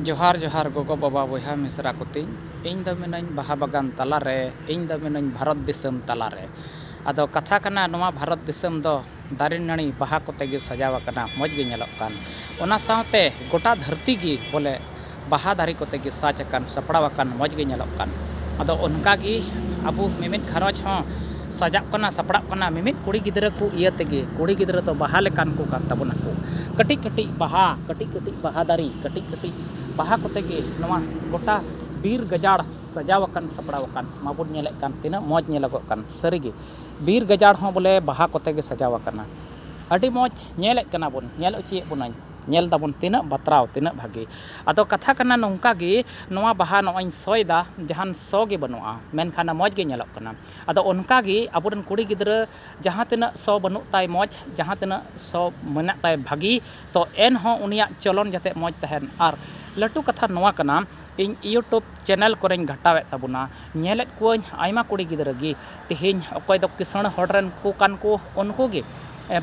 ᱡᱚᱦᱟᱨ ᱡᱚᱦᱟᱨ ᱜᱚᱜᱚ ᱵᱟᱵᱟ ᱵᱚᱭᱦᱟ ᱢᱤᱥᱨᱟ ᱠᱚ ᱛᱤᱧ ᱤᱧ ᱫᱚ ᱢᱤᱱᱟᱹᱧ ᱵᱟᱦᱟ ᱵᱟᱜᱟᱱ ᱛᱟᱞᱟ ᱨᱮ ᱤᱧ ᱫᱚ ᱢᱤᱱᱟᱹᱧ ᱵᱷᱟᱨᱚᱛ ᱫᱤᱥᱚᱢ ᱛᱟᱞᱟ ᱨᱮ ᱟᱫᱚ ᱠᱟᱛᱷᱟ ᱠᱟᱱᱟ ᱱᱚᱣᱟ ᱵᱷᱟᱨᱚᱛ ᱫᱤᱥᱚᱢ ᱫᱚ ᱫᱟᱨᱮ ᱱᱟᱹᱲᱤ ᱵᱟᱦᱟ ᱠᱚᱛᱮ ᱜᱮ ᱥᱟᱡᱟᱣ ᱟᱠᱟᱱᱟ ᱢᱚᱡᱽ ᱜᱮ ᱧᱮᱞᱚᱜ ᱠᱟᱱ ᱚᱱᱟ ᱥᱟᱶᱛᱮ ᱜᱚᱴᱟ ᱫᱷᱟᱹᱨᱛᱤ ᱜᱮ ᱵᱚᱞᱮ ᱵᱟᱦᱟ ᱫᱟᱨᱮ ᱠᱚᱛᱮ ᱜᱮ ᱥᱟᱡᱽ ᱟᱠᱟᱱ ᱥᱟᱯᱲᱟᱣ ᱟᱠᱟᱱ ᱢᱚᱡᱽ ᱜᱮ ᱧᱮᱞᱚᱜ ᱠᱟᱱ ᱟᱫᱚ ᱚᱱᱠᱟ ᱜᱮ ᱟᱵᱚ ᱢᱤᱢᱤᱫ ᱜᱷᱟᱨᱚᱸᱡᱽ ᱦᱚᱸ ᱥᱟᱡᱟᱜ ᱠᱟᱱᱟ ᱥᱟᱯᱲᱟᱜ ᱠᱟᱱᱟ ᱢᱤᱢᱤᱫ ᱠᱩᱲᱤ ᱜᱤᱫᱽᱨᱟᱹ ᱠᱚ ᱤᱭᱟᱹ ᱛᱮᱜᱮ ᱠᱩᱲᱤ ᱜᱤᱫᱽᱨᱟᱹ ᱫᱚ ᱵᱟᱦᱟ ᱞᱮᱠᱟᱱ ᱠᱚ ᱠᱟᱱ ᱛᱟᱵᱚᱱᱟ ᱠᱚ ᱠᱟᱹᱴᱤᱡ ᱠᱟᱹᱴᱤᱡ ᱵᱟᱦᱟ ᱠᱟᱹᱴᱤᱡ ᱠᱟᱹᱴᱤᱡ ᱵᱟᱦᱟ ᱫᱟᱨᱮ ᱠᱟᱹᱴᱤᱡ ᱠᱟᱹᱴᱤᱡ ᱵᱟᱦᱟ ᱠᱚᱛᱮ ᱜᱮ ᱱᱚᱣᱟ ᱜᱚᱴᱟ ᱵᱤᱨ ᱜᱟᱡᱟᱲ ᱥᱟᱡᱟᱣ ᱟᱠᱟᱱ ᱥᱟᱯᱲᱟᱣ ᱟᱠᱟᱱ ᱢᱟᱵᱚᱱ ᱧᱮᱞᱮᱫ ᱠᱟᱱ ᱛᱤᱱᱟᱹᱜ ᱢᱚᱡᱽ ᱧᱮᱞᱚᱜᱚᱜ ᱠᱟᱱ ᱥᱟᱹᱨᱤ ᱜᱮ ᱵᱤᱨ ᱜᱟᱡᱟᱲ ᱦᱚᱸ ᱵᱚᱞᱮ ᱵᱟᱦᱟ ᱠᱚᱛᱮ ᱜᱮ ᱥᱟᱡᱟᱣ ᱟᱠᱟᱱᱟ ᱟᱹᱰᱤ ᱢᱚᱡᱽ ᱧᱮᱞᱮᱫ ᱠᱟᱱᱟ ᱵᱚᱱ ᱧᱮᱞ ᱚᱪᱚᱭᱮᱫ ᱵᱚᱱᱟᱹᱧ ᱧᱮᱞ ᱫᱟᱵᱚᱱ ᱛᱤᱱᱟᱹᱜ ᱵᱟᱛᱨᱟᱣ ᱛᱤᱱᱟᱹᱜ ᱵᱷᱟᱹᱜᱤ ᱟᱫᱚ ᱠᱟᱛᱷᱟ ᱠᱟᱱᱟ ᱱᱚᱝᱠᱟ ᱜᱮ ᱱᱚᱣᱟ ᱵᱟᱦᱟ ᱱᱚᱜᱼᱚᱭ ᱤᱧ ᱥᱚᱭᱮᱫᱟ ᱡᱟᱦᱟᱱ ᱥᱚ ᱜᱮ ᱵᱟᱹᱱᱩᱜᱼᱟ ᱢᱮᱱᱠᱷᱟᱱ ᱢᱚᱡᱽ ᱜᱮ ᱧᱮᱞᱚᱜ ᱠᱟᱱᱟ ᱟᱫᱚ ᱚᱱᱠᱟ ᱜᱮ ᱟᱵᱚ ᱨᱮᱱ ᱠᱩᱲᱤ ᱜᱤᱫᱽᱨᱟᱹ ᱡᱟᱦᱟᱸ ᱛᱤᱱᱟᱹᱜ ᱥᱚ ᱵᱟᱹᱱᱩᱜ ᱛᱟᱭ ᱢᱚᱡᱽ ᱡᱟᱦᱟᱸ ᱛᱤᱱᱟᱹᱜ ᱥᱚ ᱢᱮᱱᱟᱜ ᱛᱟᱭ ᱵᱷᱟᱹᱜᱤ ᱛᱚ ᱮᱱᱦᱚᱸ ᱩᱱᱤᱭᱟᱜ ᱪᱚᱞᱚᱱ ᱡᱟᱛᱮ ᱢᱚᱡᱽ ᱛᱟᱦᱮᱱ ᱟᱨ ᱞᱟᱹᱴᱩ ᱠᱟᱛᱷᱟ ᱱᱚᱣᱟ ᱠᱟᱱᱟ ᱤᱧ ᱤᱭᱩᱴᱩᱵᱽ ᱪᱮᱱᱮᱞ ᱠᱚᱨᱮᱧ ᱜᱷᱟᱴᱟᱣᱮᱫ ᱛᱟᱵᱚᱱᱟ ᱧᱮᱞᱮᱫ ᱠᱚᱣᱟᱧ ᱟᱭᱢᱟ ᱠᱩᱲᱤ ᱜᱤᱫᱽᱨᱟᱹ ᱜᱮ ᱛᱮᱦᱮᱧ ᱚᱠᱚᱭ ᱫᱚ ᱠᱤᱥᱟᱹᱬ ᱦᱚᱲ ᱨᱮᱱ ᱠᱚ ᱠᱟᱱ ᱠᱚ ᱩᱱᱠᱩ ᱜᱮ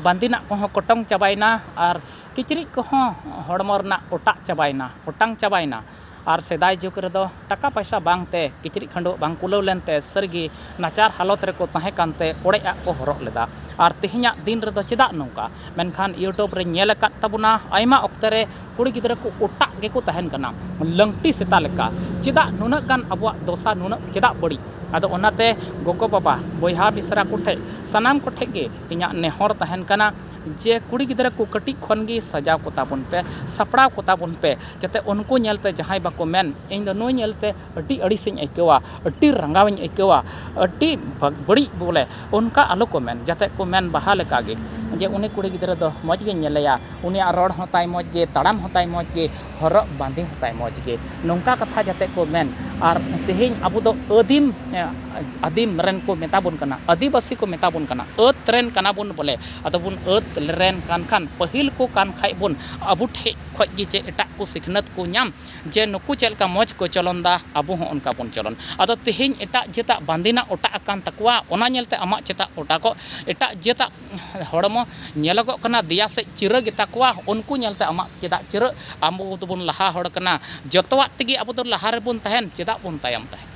ᱵᱟᱸᱫᱮᱱᱟᱜ ᱠᱚᱦᱚᱸ ᱠᱚᱴᱚᱝ ᱪᱟᱵᱟᱭᱮᱱᱟ ᱟᱨ ᱠᱤᱪᱨᱤᱡ ᱠᱚᱦᱚᱸ ᱦᱚᱲᱢᱚ ᱨᱮᱱᱟᱜ ᱚᱴᱟᱜ ᱪᱟᱵᱟᱭᱮᱱᱟ ᱚᱴᱟᱝ ᱪᱟᱵᱟᱭᱮᱱᱟ ᱟᱨ ᱥᱮᱫᱟᱭ ᱡᱩᱜᱽ ᱨᱮᱫᱚ ᱴᱟᱠᱟ ᱯᱟᱭᱥᱟ ᱵᱟᱝ ᱛᱮ ᱠᱤᱪᱨᱤᱡ ᱠᱷᱟᱹᱰᱩᱣᱟᱹᱜ ᱵᱟᱝ ᱠᱩᱞᱟᱹᱣ ᱞᱮᱱ ᱛᱮ ᱥᱟᱹᱨᱤ ᱜᱮ ᱱᱟᱪᱟᱨ ᱦᱟᱞᱚᱛ ᱨᱮᱠᱚ ᱛᱟᱦᱮᱸ ᱠᱟᱱ ᱛᱮ ᱚᱲᱮᱡ ᱟᱜ ᱠᱚ ᱦᱚᱨᱚᱜ ᱞᱮᱫᱟ ᱟᱨ ᱛᱮᱦᱮᱧᱟᱜ ᱫᱤᱱ ᱨᱮᱫᱚ ᱪᱮᱫᱟᱜ ᱱᱚᱝᱠᱟ ᱢᱮᱱᱠᱷᱟᱱ ᱭᱩᱴᱩᱵᱽ ᱨᱮᱧ ᱧᱮᱞ ᱟᱠᱟᱫ ᱛᱟᱵᱚᱱᱟ ᱟᱭᱢᱟ ᱚᱠᱛᱮ ᱨᱮ ᱠᱩᱲᱤ ᱜᱤᱫᱽᱨᱟᱹ ᱠᱚ ᱚᱴᱟᱜ ᱜᱮᱠᱚ ᱛᱟᱦᱮᱱ ᱠᱟᱱᱟ ᱞᱟᱹᱝᱴᱤ ᱥᱮᱛᱟ ᱞᱮᱠᱟ ᱪᱮᱫᱟᱜ ᱱᱩᱱᱟᱹᱜ ᱜᱟᱱ ᱟᱵᱚᱣᱟᱜ ᱫᱚᱥᱟ ᱱᱩᱱᱟᱹᱜ ᱪᱮᱫᱟᱜ ᱵᱟᱹᱲᱤᱡ ᱟᱫᱚ ᱚᱱᱟᱛᱮ ᱜᱚᱜᱚ ᱵᱟᱵᱟ ᱵᱚᱭᱦᱟ ᱢᱤᱥᱨᱟ ᱠᱚᱴᱷᱮᱱ ᱥᱟᱱᱟᱢ ᱠᱚᱴᱷᱮᱱ ᱜᱮ ᱤᱧᱟᱹᱜ ᱱᱮᱦᱚᱨ ᱛᱟᱦᱮᱱ ᱠᱟᱱᱟ ᱡᱮ ᱠᱩᱲᱤ ᱜᱤᱫᱽᱨᱟᱹ ᱠᱚ ᱠᱟᱹᱴᱤᱡ ᱠᱷᱚᱱ ᱜᱮ ᱥᱟᱡᱟᱣ ᱠᱚᱛᱟ ᱵᱚᱱ ᱯᱮ ᱥᱟᱯᱲᱟᱣ ᱠᱚᱛᱟ ᱵᱚᱱ ᱯᱮ ᱡᱟᱛᱮ ᱩᱱᱠᱩ ᱧᱮᱞ ᱛᱮ ᱡᱟᱦᱟᱸᱭ ᱵᱟᱠᱚ ᱢᱮᱱ ᱤᱧ ᱫᱚ ᱱᱩᱭ ᱧᱮᱞ ᱛᱮ ᱟᱹᱰᱤ ᱟᱹᱲᱤᱥ ᱤᱧ ᱟᱹᱭᱠᱟᱹᱣᱟ ᱟᱹᱰᱤ ᱨᱟᱸᱜᱟᱣ ᱤᱧ ᱟᱹᱭᱠᱟᱹᱣᱟ ᱟᱹᱰᱤ ᱵᱟᱹᱲᱤᱡ ᱵᱚᱞᱮ ᱚᱱᱠᱟ ᱟᱞᱚ ᱠᱚ ᱢᱮᱱ ᱡᱟᱛᱮ ᱠᱚ ᱢᱮᱱ ᱵᱟᱦᱟ ᱞᱮᱠᱟ ᱜᱮ ᱡᱮ ᱩᱱᱤ ᱠᱩᱲᱤ ᱜᱤᱫᱽᱨᱟᱹ ᱫᱚ ᱢᱚᱡᱽ ᱜᱮᱧ ᱧᱮᱞᱮᱭᱟ ᱩᱱᱤᱭᱟᱜ ᱨᱚᱲ ᱦᱚᱸ ᱛᱟᱭ ᱢᱚᱡᱽ ᱜᱮ ᱛᱟᱲᱟᱢ ᱦᱚᱸ ᱛᱟᱭ ᱢᱚᱡᱽ ᱜᱮ ᱦᱚᱨᱚᱜ ᱵᱟᱸᱫᱮ ᱦᱚᱸ ᱛᱟᱭ ᱢᱚᱡᱽ ᱜᱮ ᱱᱚᱝᱠᱟ ᱠᱟᱛᱷᱟ ᱡᱟᱛᱮ ᱠᱚ ᱢᱮᱱ ᱟᱨ ᱛᱮᱦᱮᱧ ᱟᱵᱚ ᱫᱚ ᱟᱹᱫᱤᱢ ᱟᱹᱫᱤᱢ ᱨᱮᱱ ᱠᱚ ᱢᱮᱛᱟ ᱵᱚᱱ ᱠᱟᱱᱟ ᱟᱹᱫᱤᱵᱟᱹᱥᱤ ᱠᱚ ᱢᱮᱛᱟ ᱵᱚᱱ ᱠᱟᱱᱟ ᱟᱹᱫᱽ ᱨᱮᱱ ᱠᱟᱱᱟ ᱵᱚᱱ ᱵᱚᱞᱮ ᱟᱫᱚ ᱵᱚᱱ ᱟᱹᱫᱽ ᱨᱮᱱ ᱠᱟᱱ ᱠᱷᱟᱱ ᱯᱟᱹᱦᱤᱞ ᱠᱚ ᱠᱟᱱ ᱠᱷᱟᱡ ᱵᱚᱱ ᱟᱵᱚ ᱴᱷᱮᱡ ᱠᱷᱚᱡ ᱜᱮ ᱪᱮᱫ ᱮᱴᱟᱜ ᱠᱚ ᱥᱤᱠᱷᱱᱟᱹᱛ ᱠᱚ ᱧᱟᱢ ᱡᱮ ᱱᱩᱠᱩ ᱪᱮᱫ ᱞᱮᱠᱟ ᱢᱚᱡᱽ ᱠᱚ ᱪᱚᱞᱚᱱᱫᱟ ᱟᱵᱚ ᱦᱚᱸ ᱚᱱᱠᱟ ᱵᱚᱱ ᱪᱚᱞᱚᱱ ᱟᱫᱚ ᱛᱮᱦᱮᱧ ᱮᱴᱟᱜ ᱡᱟᱹᱛᱟᱜ ᱵᱟᱸᱫᱮᱱᱟᱜ ᱚᱴᱟᱜ ᱟᱠᱟᱱ ᱛᱟᱠᱚᱣᱟ ᱚᱱᱟ ᱧᱮᱞ ᱛᱮ ᱟᱢᱟᱜ ᱪᱮᱫᱟᱜ ᱚᱴᱟᱜᱚᱜ ᱮᱴᱟᱜ ᱡᱟᱹᱛᱟᱜ ᱦᱚᱲᱢᱚ ᱧᱮᱞᱚᱜᱚᱜ ᱠᱟᱱᱟ ᱫᱮᱭᱟ ᱥᱮᱡ ᱪᱤᱨᱟᱹ ᱜᱮᱛᱟ ᱠᱚᱣᱟ ᱩᱱᱠᱩ ᱧᱮᱞ ᱛᱮ ᱟᱢᱟᱜ ᱪᱮᱫᱟᱜ ᱪᱤᱨᱟᱹᱜ ᱟᱵᱚ ᱫᱚᱵᱚᱱ ᱞᱟᱦᱟ ᱦᱚᱲ ᱠᱟᱱᱟ ᱡᱚᱛᱚᱣᱟᱜ ᱛᱮᱜᱮ ᱟᱵᱚ ᱫᱚ ᱞᱟᱦᱟ ᱨᱮᱵᱚᱱ ᱛᱟᱦᱮᱱ ᱪᱮᱫᱟᱜ ᱵᱚᱱ ᱛᱟᱭᱚᱢ ᱛᱟᱦᱮᱱ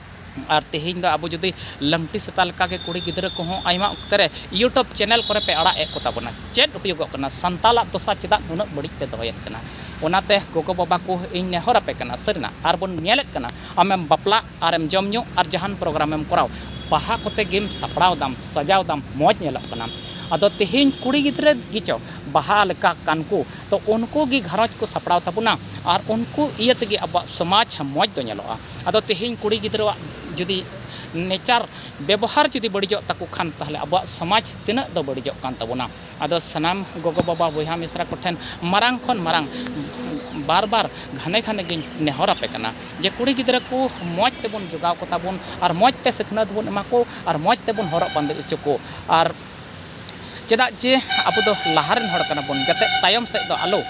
ᱟᱨ ᱛᱮᱦᱮᱧ ᱫᱚ ᱟᱵᱚ ᱡᱩᱫᱤ ᱞᱟᱝᱴᱤ ᱥᱮᱛᱟ ᱞᱮᱠᱟ ᱜᱮ ᱠᱩᱲᱤ ᱜᱤᱫᱽᱨᱟᱹ ᱠᱚᱦᱚᱸ ᱟᱭᱢᱟ ᱚᱠᱛᱮ ᱨᱮ ᱭᱩᱴᱩᱵᱽ ᱪᱮᱱᱮᱞ ᱠᱚᱨᱮ ᱯᱮ ᱟᱲᱟᱜ ᱮᱫ ᱠᱚ ᱛᱟᱵᱚᱱᱟ ᱪᱮᱫ ᱦᱩᱭᱩᱜᱚᱜ ᱠᱟᱱᱟ ᱥᱟᱱᱛᱟᱞᱟᱜ ᱫᱚᱥᱟ ᱪᱮᱫᱟᱜ ᱱᱩᱱᱟᱹᱜ ᱵᱟᱹᱲᱤᱡ ᱯᱮ ᱫᱚᱦᱚᱭᱮᱫ ᱠᱟᱱᱟ ᱚᱱᱟ ᱛᱮ ᱜᱚᱜᱚ ᱵᱟᱵᱟ ᱠᱚ ᱤᱧ ᱱᱮᱦᱚᱨ ᱟᱯᱮ ᱠᱟᱱᱟ ᱥᱟᱹᱨᱤᱱᱟᱜ ᱟᱨ ᱵᱚᱱ ᱧᱮᱞᱮᱫ ᱠᱟᱱᱟ ᱟᱢᱮᱢ ᱵᱟᱯᱞᱟᱜ ᱟᱨᱮᱢ ᱡᱚᱢ ᱧᱩ ᱟᱨ ᱡᱟᱦᱟᱱ ᱯᱨᱳᱜᱽᱨᱟᱢ ᱮᱢ ᱠᱚᱨᱟᱣ ᱵᱟᱦᱟ ᱠᱚᱛᱮ ᱜᱮᱢ ᱥᱟᱯᱲᱟᱣ ᱫᱟᱢ ᱥᱟᱡᱟᱣ ᱫᱟᱢ ᱢᱚᱡᱽ ᱧᱮᱞᱚᱜ ᱠᱟᱱᱟᱢ ᱟᱫᱚ ᱛᱮᱦᱮᱧ ᱠᱩᱲᱤ ᱜᱤᱫᱽᱨᱟᱹ ᱜᱮᱪᱚ ᱵᱟᱦᱟ ᱞᱮᱠᱟ ᱠᱟᱱ ᱠᱚ ᱛᱚ ᱩᱱᱠᱩ ᱜᱮ ᱜᱷᱟᱨᱚᱸᱡᱽ ᱠᱚ ᱥᱟᱯᱲᱟᱣ ᱛᱟᱵᱚᱱᱟ ᱟᱨ ᱩᱱᱠᱩ ᱤᱭᱟᱹ ᱛᱮᱜᱮ ᱟᱵᱚᱣᱟᱜ ᱥᱚᱢᱟᱡᱽ ᱢᱚᱡᱽ ᱫᱚ ᱧᱮᱞᱚᱜᱼᱟ ᱟᱫᱚ ᱛᱮᱦᱮᱧ ᱠᱩᱲᱤ ᱜᱤᱫᱽᱨᱟᱹᱣᱟᱜ ᱡᱩᱫᱤ ᱱᱮᱪᱟᱨ ᱵᱮᱵᱚᱦᱟᱨ ᱡᱩᱫᱤ ᱵᱟᱹᱲᱤᱡᱚᱜ ᱛᱟᱠᱚ ᱠᱷᱟᱱ ᱛᱟᱦᱚᱞᱮ ᱟᱵᱚᱣᱟᱜ ᱥᱚᱢᱟᱡᱽ ᱛᱤᱱᱟᱹᱜ ᱫᱚ ᱵᱟᱹᱲᱤᱡᱚᱜ ᱠᱟᱱ ᱛᱟᱵᱚᱱᱟ ᱟᱫᱚ ᱥᱟᱱᱟᱢ ᱜᱚᱜᱚ ᱵᱟᱵᱟ ᱵᱚᱭᱦᱟ ᱢᱤᱥᱨᱟ ᱠᱚᱴᱷᱮᱱ ᱢᱟᱨᱟᱝ ᱠᱷᱚᱱ ᱢᱟᱨᱟᱝ ᱵᱟᱨ ᱵᱟᱨ ᱜᱷᱟᱱᱮ ᱜᱷᱟᱱᱮ ᱜᱮᱧ ᱱᱮᱦᱚᱨ ᱟᱯᱮ ᱠᱟᱱᱟ ᱡᱮ ᱠᱩᱲᱤ ᱜᱤᱫᱽᱨᱟᱹ ᱠᱚ ᱢᱚᱡᱽ ᱛᱮᱵᱚᱱ ᱡᱚᱜᱟᱣ ᱠᱚᱛᱟ ᱵᱚᱱ ᱟᱨ ᱢᱚᱡᱽ ᱛᱮ ᱥᱤᱠᱷᱱᱟᱹᱛ ᱵᱚᱱ ᱮᱢᱟ ᱠᱚ ᱟᱨ ᱢᱚᱡᱽ ᱛᱮᱵᱚᱱ ᱦᱚᱨᱚᱜ ᱵᱟᱸᱫᱮ ᱦᱚᱪᱚ ᱠᱚ ᱟᱨ ᱪᱮᱫᱟᱜ ᱡᱮ ᱟᱵᱚ ᱫᱚ ᱞᱟᱦᱟ ᱨᱮᱱ ᱦᱚᱲ ᱠᱟᱱᱟ ᱵᱚᱱ ᱡᱟᱛᱮ ᱛᱟᱭᱚᱢ ᱥᱮᱫ ᱫᱚ ᱟᱞᱚ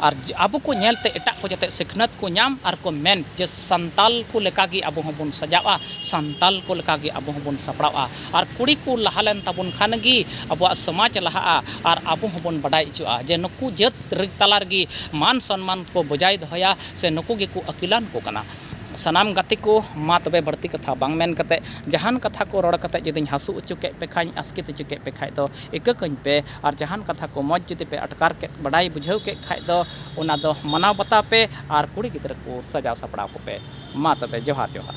ᱟᱨ ᱟᱵᱚ ᱠᱚ ᱧᱮᱞ ᱛᱮ ᱮᱴᱟᱜ ᱠᱚ ᱡᱟᱛᱮ ᱥᱤᱠᱷᱱᱟᱹᱛ ᱠᱚ ᱧᱟᱢ ᱟᱨ ᱠᱚ ᱢᱮᱱ ᱡᱮ ᱥᱟᱱᱛᱟᱲ ᱠᱚ ᱞᱮᱠᱟ ᱜᱮ ᱟᱵᱚ ᱦᱚᱸ ᱵᱚᱱ ᱥᱟᱡᱟᱜᱼᱟ ᱥᱟᱱᱛᱟᱲ ᱠᱚ ᱞᱮᱠᱟ ᱜᱮ ᱟᱵᱚ ᱦᱚᱸ ᱵᱚᱱ ᱥᱟᱯᱲᱟᱜᱼᱟ ᱟᱨ ᱠᱩᱲᱤ ᱠᱚ ᱞᱟᱦᱟ ᱞᱮᱱ ᱛᱟᱵᱚᱱ ᱠᱷᱟᱱ ᱜᱮ ᱟᱵᱚᱣᱟᱜ ᱥᱚᱢᱟᱡᱽ ᱞᱟᱦᱟᱜᱼᱟ ᱟᱨ ᱟᱵᱚ ᱦᱚᱸ ᱵᱚᱱ ᱵᱟᱰᱟᱭ ᱦᱚᱪᱚᱜᱼᱟ ᱡᱮ ᱱᱩᱠᱩ ᱡᱟᱹᱛ ᱛᱟᱞᱟ ᱨᱮᱜᱮ ᱢᱟᱱ ᱥᱚᱱᱢᱟᱱ ᱠᱚ ᱵᱚᱡᱟᱭ ᱫᱚᱦᱚᱭᱟ ᱥᱮ ᱱᱩᱠᱩ ᱜᱮᱠᱚ ᱟᱹᱠᱤᱞᱟᱱ ᱠᱚ ᱠᱟᱱᱟ ᱥᱟᱱᱟᱢ ᱜᱟᱛᱮ ᱠᱚ ᱢᱟ ᱛᱚᱵᱮ ᱵᱟᱹᱲᱛᱤ ᱠᱟᱛᱷᱟ ᱵᱟᱝ ᱢᱮᱱ ᱠᱟᱛᱮ ᱡᱟᱦᱟᱱ ᱠᱟᱛᱷᱟ ᱠᱚ ᱨᱚᱲ ᱠᱟᱛᱮ ᱡᱩᱫᱤᱧ ᱦᱟᱹᱥᱩ ᱚᱪᱚ ᱠᱮᱫ ᱯᱮ ᱠᱷᱟᱱ ᱟᱥᱠᱮᱛ ᱚᱪᱚ ᱠᱮᱫ ᱯᱮ ᱠᱷᱟᱱ ᱫᱚ ᱤᱠᱟᱹ ᱠᱟᱹᱧ ᱯᱮ ᱟᱨ ᱡᱟᱦᱟᱱ ᱠᱟᱛᱷᱟ ᱠᱚ ᱢᱚᱡᱽ ᱡᱩᱫᱤ ᱯᱮ ᱟᱴᱠᱟᱨ ᱠᱮᱫ ᱵᱟᱰᱟᱭ ᱵᱩᱡᱷᱟᱹᱣ ᱠᱮᱫ ᱠᱷᱟᱱ ᱫᱚ ᱚᱱᱟ ᱫᱚ ᱢᱟᱱᱟᱣ ᱵᱟᱛᱟᱣ ᱯᱮ ᱟᱨ ᱠᱩᱲᱤ ᱜᱤᱫᱽᱨᱟᱹ ᱠᱚ ᱥᱟᱡᱟᱣ ᱥᱟᱯᱲᱟᱣ ᱠᱚᱯᱮ ᱢᱟ ᱛᱚᱵᱮ ᱡᱚᱦᱟᱨ ᱡᱚᱦᱟᱨ